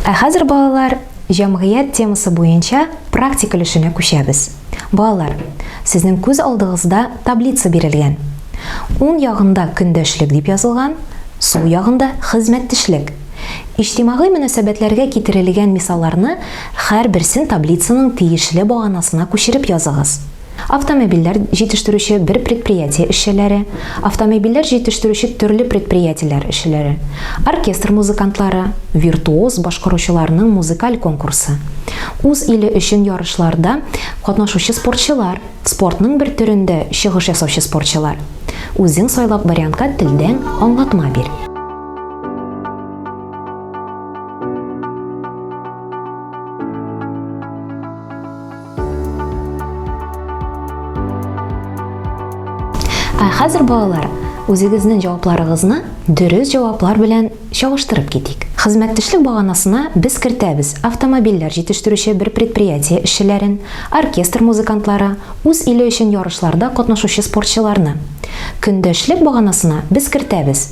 Ә хәзер балалар җәмгыять темасы буенча практик өлешенә күчәбез. Балалар, сезнең күз алдыгызда таблица бирелгән. Уң ягында көндәшлек дип язылган, сул ягында хезмәттешлек. Иҗтимагый мөнәсәбәтләргә китерелгән мисалларны Һәрберсен таблицаның тиешле баганасына күчереп языгыз. Автомобильләр җитештерүче бер предприятие эшчеләре, автомобильләр җитештерүче төрле предприятиеләр эшчеләре, оркестр музыкантлары, виртуоз башкаручыларның музыкаль конкурсы, үз иле өчен ярышларда катнашучы спортчылар, спортның бер төрендә чыгыш ясаучы спортчылар. Үзең сайлап вариантка телдән аңлатма бир. Ә хәзер балалар, үзегезнең җавапларыгызны дөрес җаваплар белән чагыштырып китик. Хезмәттәшлек баганасына без кертәбез автомобильләр җитештерүче бер предприятие эшчеләрен, оркестр музыкантлары, үз иле өчен ярышларда катнашучы спортчыларны. Көндәшлек баганасына без кертәбез